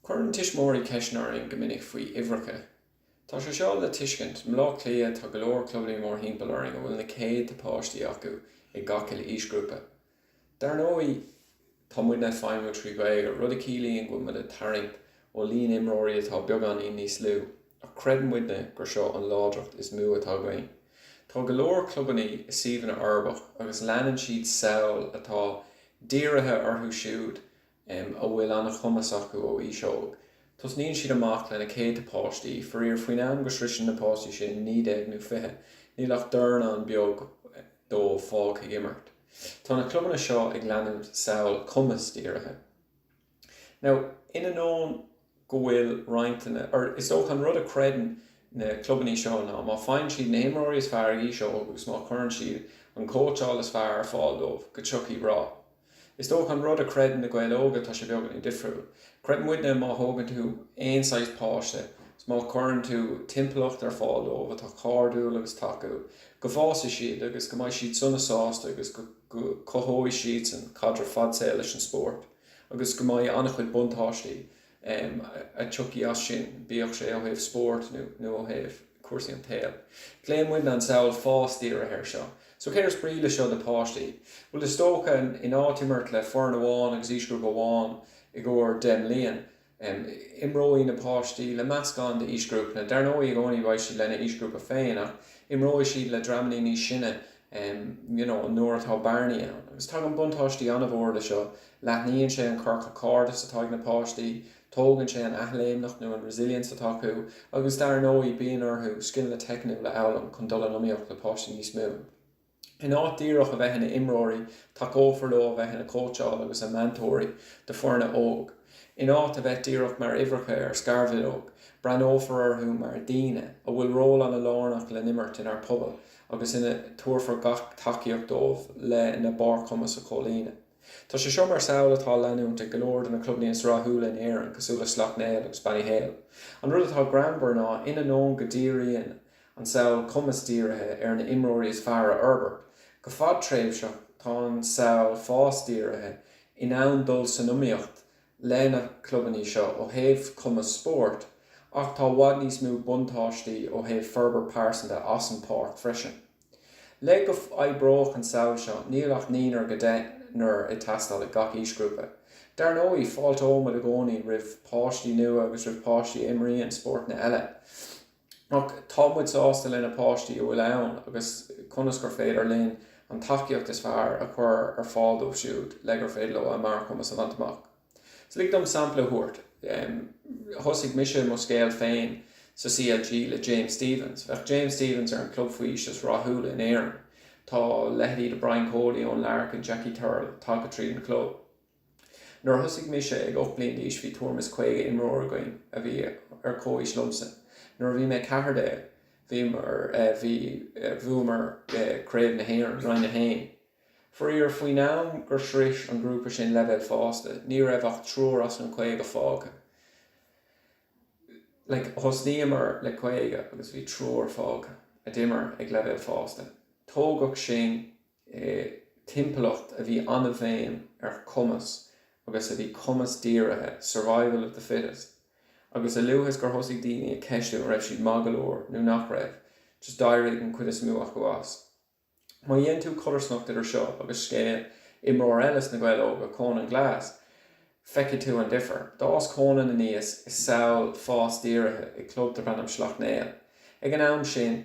Cuireann tuismitheoirí ceisteanna orainn go minic faoi uimhreacha. Tá sé seo le tuiscint, i mBlá Cliath tá go leor clubannaí mórthimpeall orainn a bhfuil na céadta páistí acu i gach uile aoisghrúpa. Dar ndóigh, tá muidne ag feidhmiú trí Ghaeilge, rud a chiallaíonn go bhfuil muid ag tarraingt ó líon imreoirí atá beagáinín níos lú. Ach creideann muidne gur seo an láidreacht is mó atá againn. Tá go leor clubannaí i suíomhanna uirbeach agus leanann siad samhail atá dírithe orthu siúd a bhfuil an-chumas acu ó aois óg. Tosnaíonn siad amach le na céadta páistí, faraor faoin am go sroiseann na páistí sin 19 nó 20, níl ach dornán beag dóibh fágtha ag imirt. Tá na clubanna seo ag leanúint samhail cumasdírithe. Now, in ainneoin go bhfuil roinnt de na, or is dócha an rud a chreideann na clubannaí seo ná má faigheann siad na himreoirí is fearr ag aois óg agus má chuireann siad an cóitseáil is fearr ar fáil dóibh go tiocfaidh rath. Is dócha an rud a chreideann Na Gaeil Óga tá sé beagáinín difriúil. Creideann muidne má thógann tú aon saghas páiste is má chuireann tú timpeallacht ar fáil dóibh atá cairdiúil agus tacúil go bhfásfaidh siad agus go mbeidh siad sona sásta agus go cothóidh siadsan caidreamh fadsaoil leis an spórt. agus go mbeidh an-chuid buntáistí a tiocfaidh as sin, bíodh sé ó thaobh spóirt nó ó thaobh cúrsaí an tsaoil. Glaonn muidne an samhail fás-dírithe air seo. So céard is brí leis seo do páistí? Bhuel, is dócha, in áit imirt le foireann amháin agus aoisghrúpa amháin i gcomhair deich mbliain, Imreoidh na páistí le meascán d'aoisghrúpanna, dar ndóigh i gcónaí beidh siad lena aoisghrúpa féin, ach imreoidh siad le dreamannaí níos sine you know nuair atá bearnaí ann. Agus tagann buntáistí an-mhór le seo, leathnaíonn sé an ciorcal cairdis atá ag na páistí, tógann sé an athléimneacht nó an resilience atá acu agus dar ndóigh bíonn orthu scileanna teicniúla a fhoghlaim chun dul in iomaíocht le páistí níos mó. In áit díreach a bheith ina imreoirí, tacófar leo a bheith ina gcóitseálaithe agus ina meantóirí do foirne óg. In áit a bheith díreach mar uimhreacha ar scarbhileog, breathnófar orthu mar dhaoine a bhfuil ról an-lárnach le n-imirt inár pobail agus ina dtabharfar gach tacaíocht dóibh lena mbarrchumas a chomhlíonadh. Tá sé seo mar samhail atá á leanúint ag go leor de na clubanna is rathúla in Éirinn cosúil le Slaughtneil agus Ballyhale. An rud atá greannmhar ná, in ainneoin go díríonn an samhail cumasdírithe ar na imreoirí is fearr a fhorbairt. Go fadtréimhseach, tá an samhail fásdírithe in ann dul san iomaíocht le na clubanna seo ó thaobh cumas spóirt, ach tá i bhfad níos mó buntáistí ó thaobh forbairt pearsanta as an páirc freisin. Le go oibreodh an samhail seo, níl ach naonúr go deichniúr ag teastáil i gach aoisghrúpa. Dar ndóigh, fáilteoidh muid i gcónaí roimh páistí nua agus roimh páistí a imríonn spórtanna eile. Ach tá muid sásta le na páistí a bhfuil ann agus conas gur féidir linn an tacaíocht is fearr a chur ar fáil dóibh siúd le gur féidir leo a mbarrchumas a bhaint amach. So lig dom sampla a thabhairt. Thosaigh mise mo scéal féin sa CLG le James Stephens. Bheadh James Stephens ar an club faoi aois is rathúla in Éirinn. Tá leithéidí de Brian Cody, Eoin Larkin, Jackie Tyrrell tagtha tríd an chlub. Nuair a thosaigh mise ag ocht mbliain d'aois bhí tuairim is caoga imreoir againn a bhí ar chomhaois liomsa. Nuair a bhí mé ceathair déag bhíomar, bhí, bhuamar Craobh na hÉireann, Roinn a hAon. Faraor, faoin am gur shrois an grúpa sin leibhéal fásta ní raibh ach triúr as an caoga fágtha. Thosnaíomar le caoga agus bhí triúr fágtha a d'imir ag leibhéal fásta. Tógadh sinn. i dtimpeallacht a bhí an-bhéim ar chumas agus a bhí cumas-dírithe, survival of the fittest, agus a luaithe is gur thosaigh daoine ag ceistiú an raibh siad maith go leor nó nach raibh, just d'éirigh an chuid is mó acu as. Má dhéanann tú codarsnacht idir seo agus scéal imreoir eile sna Gaeil Óga, Conan Glass, feicfidh tú an difear. D'fhás Conan aníos i samhail fás-dírithe i gclub darb ainm Sleacht Néill. Ag an am sin.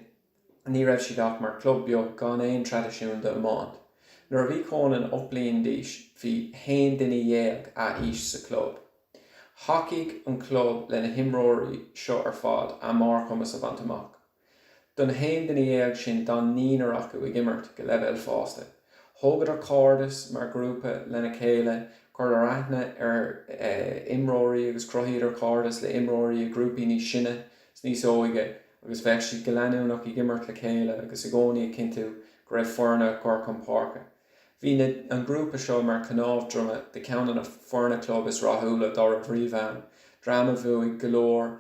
Ní raibh siad ach mar chlub beag gan aon traidisiún d'iomáint. Nuair a bhí Conan ocht bliain d'aois bhí haon duine dhéag a aois sa chlub. Thacaigh an club le na himreoirí seo ar fad a mbarrchumas a bhaint amach. Don haon duine dhéag sin d'fhan naonúr acu ag imirt go leibhéal fásta. Thógadar cairdeas mar ghrúpa lena chéile, cuireadh aithne ar imreoirí agus cruthaíodar cairdeas le imreoirí i grúpaí níos sine. 's níos óige agus bheadh siad go leanúnach ag imirt le chéile agus i gcónaí ag cinntiú go raibh foirne á gcur chun páirce. Bhí an grúpa seo mar cnámh droma de cheann de na foirne club is rathúla dá raibh riamh ann, dream a bhuaigh go leor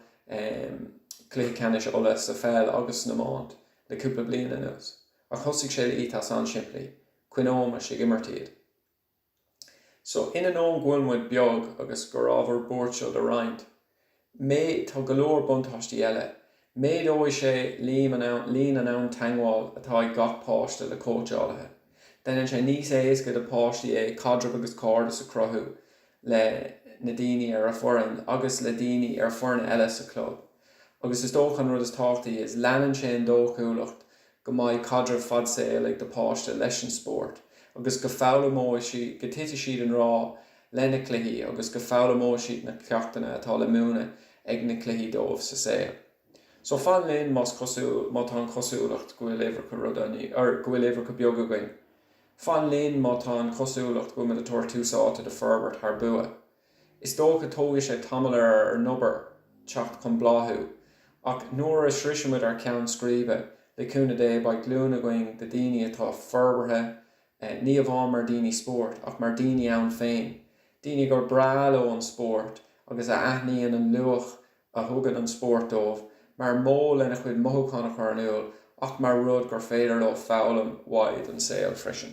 Cluichí Ceannais Uladh sa pheil agus san iomáint le cúpla bliain anuas. Ach thosaigh sé le ethos an-simplí, coinneoimis ag imirt iad. So, in ainneoin go bhfuil muid beag agus gur ábhar buairt seo do roinnt, mé, tá go leor buntáistí eile. Méadóidh sé líon an am teagmháil atá ag gach páiste le cóitseálaithe. Déanann sé níos éasca do páistí é caidreamh agus cairdeas a cruthú le na daoine ar a foireann agus le daoine ar foirne eile sa chlub. Agus is dócha an rud is tábhachtaí is léanann sé an dóchúlacht go mbeidh caidreamh fad saoil ag do páiste leis an spórt agus go foghlaimeoidh siad, go titfidh siad i ngrá le na cluichí agus go foghlaimeoidh siad na ceachtanna atá le múineadh ag na cluichí dóibh sa saol. So fan linn más cosúil, má tá an chosúlacht go bhfuil uimhreacha rud an, or go bhfuil uimhreacha beag againn. Fan linn má tá an chosúlacht go bhfuil muid ag tabhairt tús áite do forbairt thar bua. Is dócha tógfaidh sé tamall ar ár n-obair teacht chun bláthú, ach nuair a shroisimid ár cheann scríbe, le cúnamh Dé, beidh glúin againn de daoine atá forbartha, ní amháin mar daoine spóirt, ach mar daoine iontu féin, daoine gur breá leo an spórt agus a aithníonn an luach a thugann an spórt dóibh, mar mhodh lena chuid mothúchán a chur in iúl, ach mar rud gur féidir leo foghlaim uaidh don saol freisin.